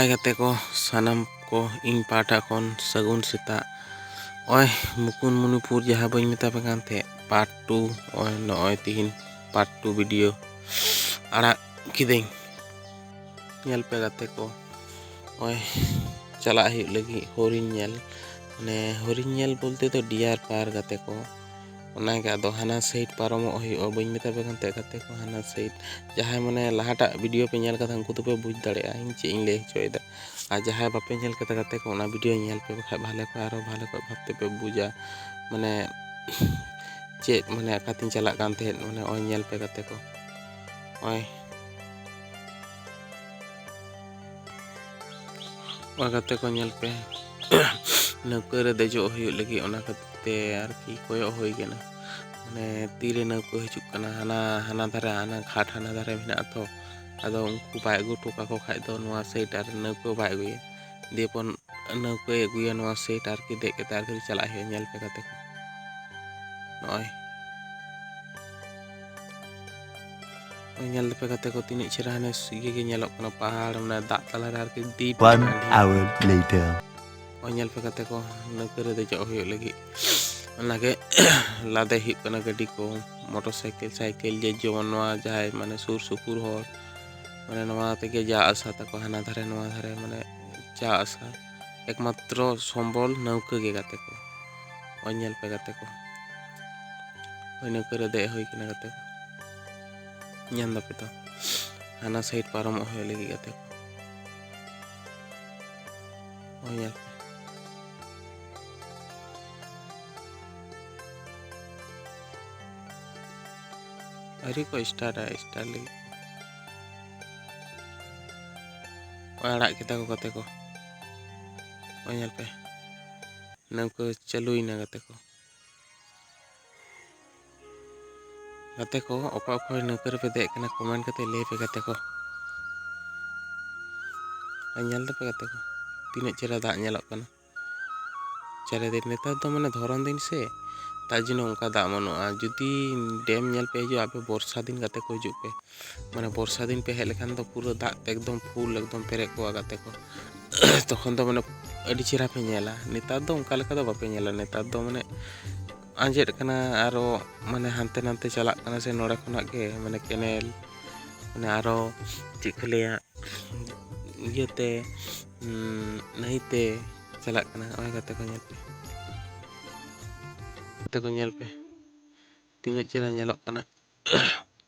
ᱱᱟᱯᱟᱭ ᱜᱟᱛᱮ ᱠᱚ ᱥᱟᱱᱟᱢ ᱠᱚ ᱤᱧ ᱯᱟᱦᱴᱟ ᱠᱷᱚᱱ ᱥᱟᱹᱜᱩᱱ ᱥᱮᱛᱟᱜ ᱱᱚᱜᱼᱚᱭ ᱢᱩᱠᱩᱱᱢᱩᱱᱤᱯᱩᱨ ᱡᱟᱦᱟᱸ ᱵᱟᱹᱧ ᱢᱮᱛᱟ ᱯᱮ ᱠᱟᱱ ᱛᱟᱦᱮᱸᱫ ᱯᱟᱨᱴ ᱴᱩ ᱱᱚᱜᱼᱚᱭ ᱱᱚᱜᱼᱚᱭ ᱛᱤᱦᱤᱧ ᱯᱟᱨᱴ ᱴᱩ ᱵᱷᱤᱰᱤᱭᱳ ᱟᱲᱟᱜ ᱠᱤᱫᱟᱹᱧ ᱧᱮᱞ ᱯᱮ ᱜᱟᱛᱮ ᱠᱚ ᱱᱚᱜᱼᱚᱭ ᱪᱟᱞᱟᱜ ᱦᱩᱭᱩᱜ ᱞᱟᱹᱜᱤᱫ ᱦᱚᱨᱤᱱ ᱧᱮᱞ ᱢᱟᱱᱮ ᱦᱚᱨᱤᱱ ᱧᱮᱞ ᱵᱚᱞᱛᱮ ᱫᱚ ᱰᱤᱭᱟᱨ ᱯᱟᱨ ᱜᱟᱛᱮ ᱠᱚ ᱚᱱᱟᱜᱮ ᱟᱫᱚ ᱦᱟᱱᱟ ᱥᱟᱭᱤᱰ ᱯᱟᱨᱚᱢᱚᱜ ᱦᱩᱭᱩᱜᱼᱟ ᱵᱟᱹᱧ ᱢᱮᱛᱟ ᱯᱮ ᱠᱟᱱ ᱛᱟᱦᱮᱸᱫ ᱜᱟᱛᱮ ᱠᱚ ᱦᱟᱱᱟ ᱥᱟᱭᱤᱰ ᱡᱟᱦᱟᱸᱭ ᱢᱟᱱᱮ ᱞᱟᱦᱟᱴᱟᱜ ᱵᱷᱤᱰᱤᱭᱳ ᱯᱮ ᱧᱮᱞ ᱠᱟᱫᱟ ᱩᱱᱠᱩ ᱫᱚᱯᱮ ᱵᱩᱡᱽ ᱫᱟᱲᱮᱭᱟᱜᱼᱟ ᱤᱧ ᱪᱮᱫ ᱤᱧ ᱞᱟᱹᱭ ᱦᱚᱪᱚᱭᱮᱫᱟ ᱟᱨ ᱡᱟᱦᱟᱸᱭ ᱵᱟᱯᱮ ᱧᱮᱞ ᱠᱟᱫᱟ ᱜᱟᱛᱮ ᱠᱚ ᱚᱱᱟ ᱵᱷᱤᱰᱤᱭᱳ ᱧᱮᱞ ᱯᱮ ᱵᱟᱠᱷᱟᱡ ᱵᱷᱟᱞᱮ ᱠᱚ ᱟᱨᱚ ᱵᱷᱟᱞᱮ ᱠᱚ ᱵᱷᱟᱵᱽ ᱛᱮᱯᱮ ᱵᱩᱡᱟ ᱢᱟᱱᱮ ᱪᱮᱫ ᱢᱟᱱᱮ ᱚᱠᱟᱛᱤᱧ ᱪᱟᱞᱟᱜ ᱠᱟᱱ ᱛᱟᱦᱮᱸᱫ ᱢᱟᱱᱮ ᱱᱚᱜᱼᱚᱭ ᱧᱮᱞ ᱯᱮ ᱜᱟᱛᱮ ᱠᱚ ᱱᱚᱜᱼᱚᱭ ᱚᱱᱟ ᱠᱟᱛᱮ ᱠᱚ ᱧᱮᱞ ᱯᱮ ᱱᱟᱹᱣᱠᱟᱹ ᱨᱮ ᱫᱮᱡᱚᱜ ᱦᱩᱭᱩᱜ ᱞᱟᱹᱜᱤᱫ ᱚᱱᱟ ᱠᱷᱟᱹᱛᱤᱨ ᱛᱮ ᱟᱨᱠᱤ ᱠᱚᱭᱚᱜ ᱦᱩᱭ ᱠᱟᱱᱟ ᱢᱟᱱᱮ ᱛᱤᱨᱮ ᱱᱟᱹᱣᱠᱟᱹ ᱦᱤᱡᱩᱜ ᱠᱟᱱᱟ ᱦᱟᱱᱟ ᱦᱟᱱᱟ ᱫᱷᱟᱨᱮ ᱦᱟᱱᱟ ᱜᱷᱟᱴ ᱦᱟᱱᱟ ᱫᱷᱟᱨᱮ ᱢᱮᱱᱟᱜᱼᱟ ᱛᱚ ᱟᱫᱚ ᱩᱱᱠᱩ ᱵᱟᱭ ᱟᱹᱜᱩ ᱦᱚᱴᱚ ᱠᱟᱠᱚ ᱠᱷᱟᱡ ᱫᱚ ᱱᱚᱣᱟ ᱥᱟᱭᱤᱰ ᱟᱨ ᱱᱟᱹᱣᱠᱟᱹ ᱵᱟᱭ ᱟᱹᱜᱩᱭᱟ ᱫᱤᱭᱮᱯᱚᱨ ᱱᱟᱹᱣᱠᱟᱹᱭ ᱟᱹᱜᱩᱭᱟ ᱱᱚᱣᱟ ᱥᱟᱭᱤᱰ ᱟᱨᱠᱤ ᱫᱮᱡ ᱠᱟᱛᱮ ᱟᱨᱠᱤ ᱪᱟᱞᱟᱜ ᱦᱩᱭᱩᱜᱼᱟ ᱧᱮᱞ ᱯᱮ ᱠᱟᱛᱮ ᱱᱚᱜᱼᱚᱭ ᱧᱮᱞ ᱫᱟᱯᱮ ᱜᱟᱛᱮ ᱠᱚ ᱛᱤᱱᱟᱹᱜ ᱪᱮᱦᱨᱟ ᱦᱟᱱᱮ ᱤᱭᱟᱹ ᱜᱮ ᱧᱮᱞᱚᱜ ᱠᱟᱱᱟ ᱯᱟᱦᱟᱲ ᱢᱟᱱᱮ ᱫᱟᱜ ᱛᱟᱞᱟᱨᱮ ᱟᱨᱠᱤ ᱰᱤᱯ ᱚᱱ ᱟᱣᱟᱨ ᱞᱮᱴᱟᱨ ᱚ ᱧᱮᱞ ᱯᱮ ᱜᱟᱛᱮ ᱠᱚ ᱱᱟᱹᱣᱠᱟᱹ ᱨᱮ ᱫᱮᱡᱚᱜ ᱦᱩᱭᱩᱜ ᱞᱟᱹᱜᱤᱫ ᱚᱱᱟᱜᱮ ᱞᱟᱫᱮ ᱦᱩᱭᱩᱜ ᱠᱟᱱᱟ ᱜᱟᱹᱰᱤ ᱠᱚ ᱢᱚᱴᱚᱨ ᱥᱟᱭᱠᱮᱞ ᱥᱟᱭᱠᱮᱞ ᱡᱮ ᱡᱮᱢᱚᱱ ᱱᱚᱣᱟ ᱡᱟᱦᱟᱸᱭ ᱢᱟᱱᱮ ᱥᱩᱨ ᱥᱩᱯᱩᱨ ᱦᱚᱲ ᱢᱟᱱᱮ ᱱᱚᱣᱟ ᱛᱮᱜᱮ ᱡᱟ ᱟᱥᱟ ᱛᱟᱠᱚ ᱦᱟᱱᱟ ᱫᱷᱟᱨᱮ ᱱᱚᱣᱟ ᱫᱷᱟᱨᱮ ᱢᱟᱱᱮ ᱡᱟ ᱟᱥᱟ ᱮᱠᱢᱟᱛᱨᱚ ᱥᱚᱢᱵᱚᱞ ᱱᱟᱹᱣᱠᱟᱹ ᱜᱮ ᱜᱟᱛᱮ ᱠᱚ ᱱᱚᱜᱼᱚᱭ ᱧᱮᱞ ᱯᱮ ᱜᱟᱛᱮ ᱠᱚ ᱦᱳᱭ ᱱᱟᱹᱣᱠᱟᱹ ᱨᱮ ᱫᱮᱡ ᱦᱩᱭ ᱠᱟᱱᱟ ᱜᱟᱛᱮ ᱠᱚ ᱧᱟᱢ ᱫᱟᱯᱮ ᱛᱚ ᱦᱟᱱᱟ ᱥᱟᱭᱤᱰ ᱯᱟᱨᱚᱢᱚᱜ ᱦᱩᱭᱩᱜ ᱞᱟᱹᱜᱤᱫ ᱜᱟᱛᱮ ᱠᱚ ᱱᱚᱜᱼᱚᱭ ᱧᱮᱞ ᱯᱮ ᱟᱹᱣᱨᱤ ᱠᱚ ᱥᱴᱟᱨᱴᱟ ᱥᱴᱟᱨ ᱞᱟᱹᱜᱤᱫ ᱟᱲᱟᱜ ᱠᱮᱫᱟ ᱠᱚ ᱜᱟᱛᱮ ᱠᱚ ᱱᱚᱜᱼᱚᱭ ᱧᱮᱞ ᱯᱮ ᱱᱟᱹᱣᱠᱟᱹ ᱪᱟᱹᱞᱩᱭᱮᱱᱟ ᱜᱟᱛᱮ ᱠᱚ ᱜᱟᱛᱮ ᱠᱚ ᱚᱠᱟ ᱚᱠᱚᱭ ᱱᱟᱹᱣᱠᱟᱹ ᱨᱮᱯᱮ ᱫᱮᱡ ᱠᱟᱱᱟ ᱠᱚᱢᱮᱱᱴ ᱠᱟᱛᱮ ᱞᱟᱹᱭ ᱯᱮ ᱜᱟᱛᱮ ᱠᱚ ᱟᱨ ᱧᱮᱞ ᱫᱟᱯᱮ ᱜᱟᱛᱮ ᱠᱚ ᱛᱤᱱᱟᱹᱜ ᱪᱮᱦᱨᱟ ᱫᱟᱜ ᱧᱮᱞᱚᱜ ᱠᱟᱱᱟ ᱪᱟᱨᱮᱫᱤᱱ ᱱᱮᱛᱟᱨ ᱫᱚ ᱢᱟᱱᱮ ᱫᱷᱚᱨᱚᱱ ᱫᱤᱱ ᱥᱮ ᱛᱟᱨ ᱡᱚᱱᱱᱚ ᱚᱱᱠᱟ ᱫᱟᱜ ᱵᱟᱹᱱᱩᱜᱼᱟ ᱡᱩᱫᱤ ᱰᱮᱢ ᱧᱮᱞ ᱯᱮ ᱦᱤᱡᱩᱜᱼᱟ ᱟᱯᱮ ᱵᱚᱨᱥᱟ ᱫᱤᱱ ᱜᱟᱛᱮ ᱠᱚ ᱦᱤᱡᱩᱜ ᱯᱮ ᱢᱟᱱᱮ ᱵᱚᱨᱥᱟ ᱫᱤᱱ ᱯᱮ ᱦᱮᱡ ᱞᱮᱠᱷᱟᱱ ᱫᱚ ᱯᱩᱨᱟᱹ ᱫᱟᱜ ᱛᱮ ᱮᱠᱫᱚᱢ ᱯᱷᱩᱞ ᱮᱠᱫᱚᱢ ᱯᱮᱨᱮᱡ ᱠᱚᱜᱼᱟ ᱜᱟᱛᱮ ᱠᱚ ᱛᱚᱠᱷᱚᱱ ᱫᱚ ᱢᱟᱱᱮ ᱟᱹᱰᱤ ᱪᱮᱦᱨᱟ ᱯᱮ ᱧᱮᱞᱟ ᱱᱮᱛᱟᱨ ᱫᱚ ᱚᱱᱠᱟ ᱞᱮᱠᱟ ᱫᱚ ᱵᱟᱯᱮ ᱧᱮᱞᱟ ᱱᱮᱛᱟᱨ ᱫᱚ ᱢᱟᱱᱮ ᱟᱸᱡᱮᱫ ᱠᱟᱱᱟ ᱟᱨᱚ ᱢᱟᱱᱮ ᱦᱟᱱᱛᱮ ᱱᱟᱛᱮ ᱪᱟᱞᱟᱜ ᱠᱟᱱᱟ ᱥᱮ ᱱᱚᱰᱮ ᱠᱷᱚᱱᱟᱜ ᱜᱮ ᱢᱟᱱᱮ ᱠᱮᱱᱮᱞ ᱢᱟᱱᱮ ᱟᱨᱚ ᱪᱮᱫ ᱠᱚ ᱞᱟᱹᱭᱟ ᱤᱭᱟᱹᱛᱮ ᱱᱟᱹᱭᱛᱮ ᱪᱟᱞᱟᱜ ᱠᱟᱱᱟ ᱱᱚᱜᱼᱚᱭ ᱜᱟᱛᱮ ᱠᱚ ᱧᱮᱞ ᱯᱮ ᱜᱟᱛᱮ ᱠᱚ ᱧᱮᱞ ᱯᱮ ᱛᱤᱱᱟᱹᱜ ᱪᱮᱦᱨᱟ ᱧᱮᱞᱚᱜ ᱠᱟᱱᱟ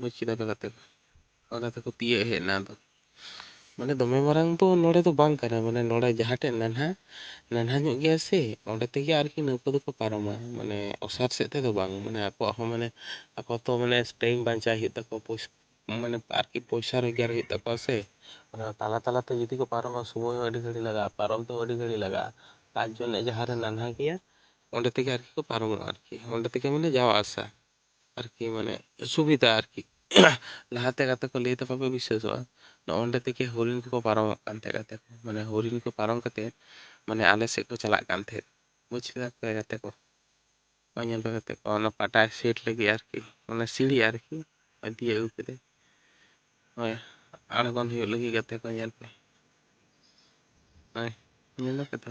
ᱢᱟᱹᱪᱤ ᱫᱟᱠᱟ ᱠᱟᱛᱮ ᱠᱚ ᱟᱫᱚ ᱚᱱᱟ ᱛᱮᱠᱚ ᱛᱤᱭᱟᱹᱜ ᱦᱮᱡ ᱮᱱᱟ ᱟᱫᱚ ᱢᱟᱱᱮ ᱫᱚᱢᱮ ᱢᱟᱨᱟᱝ ᱫᱚ ᱱᱚᱰᱮ ᱫᱚ ᱵᱟᱝ ᱠᱟᱱᱟ ᱢᱟᱱᱮ ᱱᱚᱰᱮ ᱡᱟᱦᱟᱸ ᱴᱷᱮᱡ ᱱᱟᱱᱦᱟ ᱱᱟᱱᱦᱟ ᱧᱚᱜ ᱜᱮᱭᱟ ᱥᱮ ᱚᱸᱰᱮ ᱛᱮᱜᱮ ᱟᱨᱠᱤ ᱱᱟᱹᱣᱠᱟᱹ ᱫᱚᱠᱚ ᱯᱟᱨᱚᱢᱟ ᱢᱟᱱᱮ ᱚᱥᱟᱨ ᱥᱮᱫ ᱛᱮᱫᱚ ᱵᱟᱝ ᱢᱟᱱᱮ ᱟᱠᱚᱣᱟᱜ ᱦᱚᱸ ᱢᱟᱱᱮ ᱟᱠᱚ ᱛᱚ ᱢᱟᱱᱮ ᱴᱟᱭᱤᱢ ᱵᱟᱧᱪᱟᱣ ᱦᱩᱭᱩᱜ ᱛᱟᱠᱚᱣᱟ ᱯᱚᱭᱥᱟ ᱢᱟᱱᱮ ᱟᱨᱠᱤ ᱯᱚᱭᱥᱟ ᱨᱳᱡᱽᱜᱟᱨ ᱦᱩᱭᱩᱜ ᱛᱟᱠᱚᱣᱟ ᱥᱮ ᱚᱱᱟ ᱛᱟᱞᱟ ᱛᱟᱞᱟ ᱛᱮ ᱡᱩᱫᱤ ᱠᱚ ᱯᱟᱨᱚᱢᱟ ᱥᱚᱢᱚᱭ ᱦᱚᱸ ᱟᱹᱰᱤ ᱜᱷᱟᱹᱲᱤᱡ ᱞᱟᱜᱟᱜᱼᱟ ᱯᱟᱨᱚᱢ ᱛᱮᱦᱚᱸ ᱟᱹᱰᱤ ᱜᱷᱟᱹᱲᱤᱡ ᱞᱟᱜᱟᱜᱼᱟ ᱛᱟᱨ ᱡᱚᱱᱱᱮ ᱡᱟᱦᱟᱸ ᱨᱮ ᱱᱟᱱᱦᱟ ᱜᱮᱭᱟ ᱚᱸᱰᱮ ᱛᱮᱜᱮ ᱟᱨᱠᱤ ᱠᱚ ᱯᱟᱨᱚᱢᱚᱜᱼᱟ ᱟᱨᱠᱤ ᱚᱸᱰᱮ ᱛᱮᱜᱮ ᱢᱟᱱᱮ ᱡᱟᱣᱟ ᱟᱥᱟ ᱟᱨᱠᱤ ᱢᱟᱱᱮ ᱥᱩᱵᱤᱫᱟ ᱟᱨᱠᱤ ᱞᱟᱦᱟᱛᱮ ᱜᱟᱛᱮ ᱠᱚ ᱞᱟᱹᱭ ᱛᱟᱯᱮ ᱵᱤᱥᱥᱟᱹᱥᱚᱜᱼᱟ ᱱᱚᱜᱼᱚᱸᱰᱮ ᱛᱮᱜᱮ ᱦᱚᱨᱤᱱ ᱠᱚᱠᱚ ᱯᱟᱨᱚᱢᱚᱜ ᱠᱟᱱ ᱛᱟᱦᱮᱸᱫ ᱜᱟᱛᱮ ᱠᱚ ᱢᱟᱱᱮ ᱦᱚᱨᱤᱱ ᱠᱚ ᱯᱟᱨᱚᱢ ᱠᱟᱛᱮ ᱢᱟᱱᱮ ᱟᱞᱮ ᱥᱮᱫ ᱠᱚ ᱪᱟᱞᱟᱜ ᱠᱟᱱ ᱛᱟᱦᱮᱸᱫ ᱵᱩᱡᱽ ᱠᱮᱫᱟ ᱯᱮ ᱜᱟᱛᱮ ᱠᱚ ᱱᱚᱜᱼᱚᱭ ᱧᱮᱞ ᱯᱮ ᱜᱟᱛᱮ ᱠᱚ ᱚᱱᱟ ᱯᱟᱴᱟᱭ ᱥᱮᱴ ᱞᱟᱹᱜᱤᱫ ᱟᱨᱠᱤ ᱚᱱᱟ ᱥᱤᱲᱤ ᱟᱨᱠᱤ ᱤᱫᱤᱭ ᱟᱹᱜᱩ ᱠᱮᱫᱟᱭ ᱦᱳᱭ ᱟᱬᱜᱚᱱ ᱦᱩᱭᱩᱜ ᱞᱟᱹᱜᱤᱫ ᱜᱟᱛᱮ ᱠᱚ ᱧᱮᱞ ᱯᱮ ᱦᱳᱭ ᱧᱮᱞ ᱫᱟᱯᱮ ᱛᱚ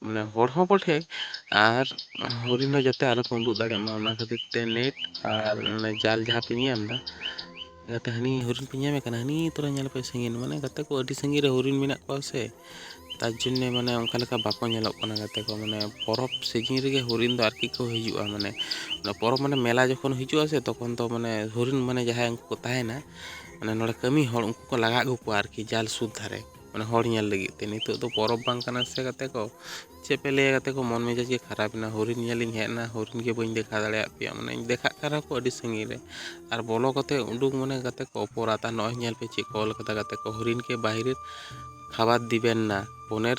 ᱢᱟᱱᱮ ᱦᱚᱲ ᱦᱚᱸ ᱠᱚ ᱴᱷᱮᱠ ᱟᱨ ᱦᱚᱨᱤᱱ ᱦᱚᱸ ᱡᱟᱛᱮ ᱟᱞᱚ ᱠᱚ ᱩᱰᱩᱜ ᱫᱟᱲᱮᱜ ᱢᱟ ᱚᱱᱟ ᱠᱷᱟᱹᱛᱤᱨ ᱛᱮ ᱱᱮᱴ ᱟᱨ ᱚᱱᱮ ᱡᱟᱞ ᱡᱟᱦᱟᱸ ᱯᱮ ᱧᱮᱞ ᱮᱫᱟ ᱡᱟᱛᱮ ᱦᱟᱹᱱᱤ ᱦᱚᱨᱤᱱ ᱯᱮ ᱧᱟᱢᱮ ᱠᱟᱱᱟ ᱦᱟᱹᱱᱤ ᱛᱚᱨᱟ ᱧᱮᱞ ᱯᱮ ᱥᱟᱺᱜᱤᱧ ᱢᱟᱱᱮ ᱜᱟᱛᱮ ᱠᱚ ᱟᱹᱰᱤ ᱥᱟᱺᱜᱤᱧ ᱨᱮ ᱦᱚᱨᱤᱱ ᱢᱮᱱᱟᱜ ᱠᱚᱣᱟ ᱥᱮ ᱛᱟᱨ ᱡᱚᱱᱱᱮ ᱢᱟᱱᱮ ᱚᱱᱠᱟ ᱞᱮᱠᱟ ᱵᱟᱠᱚ ᱧᱮᱞᱚᱜ ᱠᱟᱱᱟ ᱜᱟᱛᱮ ᱠᱚ ᱢᱟᱱᱮ ᱯᱚᱨᱚᱵᱽ ᱥᱤᱡᱤᱱ ᱨᱮᱜᱮ ᱦᱚᱨᱤᱱ ᱫᱚ ᱟᱨᱠᱤ ᱠᱚ ᱦᱤᱡᱩᱜᱼᱟ ᱢᱟᱱᱮ ᱚᱱᱟ ᱯᱚᱨᱚᱵᱽ ᱢᱟᱱᱮ ᱢᱮᱞᱟ ᱡᱚᱠᱷᱚᱱ ᱦᱤᱡᱩᱜᱼᱟ ᱥᱮ ᱛᱚᱠᱷᱚᱱ ᱫᱚ ᱢᱟᱱᱮ ᱦᱚᱨᱤᱱ ᱢᱟᱱᱮ ᱡᱟᱦᱟᱸᱭ ᱩᱱᱠᱩ ᱠᱚ ᱛᱟᱦᱮᱱᱟ ᱢᱟᱱᱮ ᱱᱚᱰᱮ ᱠᱟᱹᱢᱤ ᱦᱚᱲ ᱩᱱᱠᱩ ᱠᱚ ᱞᱟᱜᱟ ᱟᱹᱜᱩ ᱠᱚᱣᱟ ᱟᱨᱠᱤ ᱡᱟᱞ ᱥᱩᱨ ᱫᱷᱟᱨᱮ ᱢᱟᱱᱮ ᱦᱚᱲ ᱧᱮᱞ ᱞᱟᱹᱜᱤᱫ ᱛᱮ ᱱᱤᱛᱚᱜ ᱫᱚ ᱯᱚᱨᱚᱵᱽ ᱵᱟᱝ ᱠᱟᱱᱟ ᱥᱮ ᱜᱟᱛᱮ ᱠᱚ ᱪᱮᱫ ᱯᱮ ᱞᱟᱹᱭᱟ ᱜᱟᱛᱮ ᱠᱚ ᱢᱚᱱ ᱢᱮᱡᱟᱡᱽ ᱜᱮ ᱠᱷᱟᱨᱟᱯ ᱮᱱᱟ ᱦᱚᱨᱤᱱ ᱧᱮᱞ ᱤᱧ ᱦᱮᱡ ᱮᱱᱟ ᱦᱚᱨᱤᱱ ᱜᱮ ᱵᱟᱹᱧ ᱫᱮᱠᱷᱟᱣ ᱫᱟᱲᱮᱭᱟᱫ ᱯᱮᱭᱟ ᱢᱟᱱᱮ ᱫᱮᱠᱷᱟᱜ ᱠᱟᱱ ᱨᱮᱦᱚᱸ ᱠᱚ ᱟᱹᱰᱤ ᱥᱟᱺᱜᱤᱧ ᱨᱮ ᱟᱨ ᱵᱚᱞᱚ ᱠᱟᱛᱮ ᱩᱰᱩᱠ ᱢᱟᱱᱮ ᱜᱟᱛᱮ ᱠᱚ ᱚᱯᱚᱨᱟᱫᱽ ᱟᱨ ᱱᱚᱜᱼᱚᱭ ᱧᱮᱞ ᱯᱮ ᱪᱮᱫ ᱠᱚ ᱚᱞ ᱠᱟᱫᱟ ᱜᱟᱛᱮ ᱠᱚ ᱦᱚᱨᱤᱱ ᱠᱮ ᱵᱟᱦᱤᱨ ᱠᱷᱟᱵᱟᱨ ᱫᱤᱵᱮᱱ ᱱᱟ ᱯᱚᱱᱮᱨ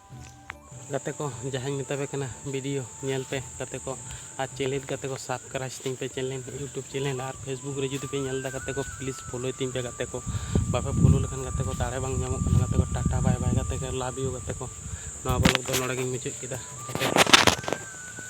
ᱜᱟᱛᱮ ᱠᱚ ᱡᱟᱦᱟᱸᱧ ᱢᱮᱛᱟᱯᱮ ᱠᱟᱱᱟ ᱵᱷᱤᱰᱤᱭᱳ ᱧᱮᱞ ᱯᱮ ᱜᱟᱛᱮ ᱠᱚ ᱟᱨ ᱪᱮᱱᱮᱞ ᱜᱟᱛᱮ ᱠᱚ ᱥᱟᱵᱥᱠᱨᱟᱭᱤᱵᱽ ᱛᱤᱧ ᱯᱮ ᱪᱮᱱᱮᱞ ᱤᱭᱩᱴᱩᱵᱽ ᱪᱮᱱᱮᱞ ᱟᱨ ᱯᱷᱮᱥᱵᱩᱠ ᱨᱮ ᱡᱩᱫᱤ ᱯᱮ ᱧᱮᱞ ᱮᱫᱟ ᱜᱟᱛᱮ ᱠᱚ ᱯᱞᱤᱡᱽ ᱯᱷᱳᱞᱳᱭ ᱛᱤᱧ ᱯᱮ ᱜᱟᱛᱮ ᱠᱚ ᱵᱟᱯᱮ ᱯᱷᱳᱞᱳ ᱞᱮᱠᱷᱟᱱ ᱜᱟᱛᱮ ᱠᱚ ᱫᱟᱲᱮ ᱵᱟᱝ ᱧᱟᱢᱚᱜ ᱠᱟᱱᱟ ᱜᱟᱛᱮ ᱠᱚ ᱴᱟᱴᱟ ᱵᱟᱭ ᱵᱟᱭ ᱜᱟᱛᱮ ᱠᱚ ᱞᱟᱵᱷ ᱤᱭᱩ ᱜᱟᱛᱮ ᱠᱚ ᱱᱚᱣᱟ ᱵᱞᱚᱜᱽ ᱫᱚ ᱱᱚᱰᱮ ᱜᱤᱧ ᱢᱩᱪᱟᱹᱫ ᱠᱮᱫᱟ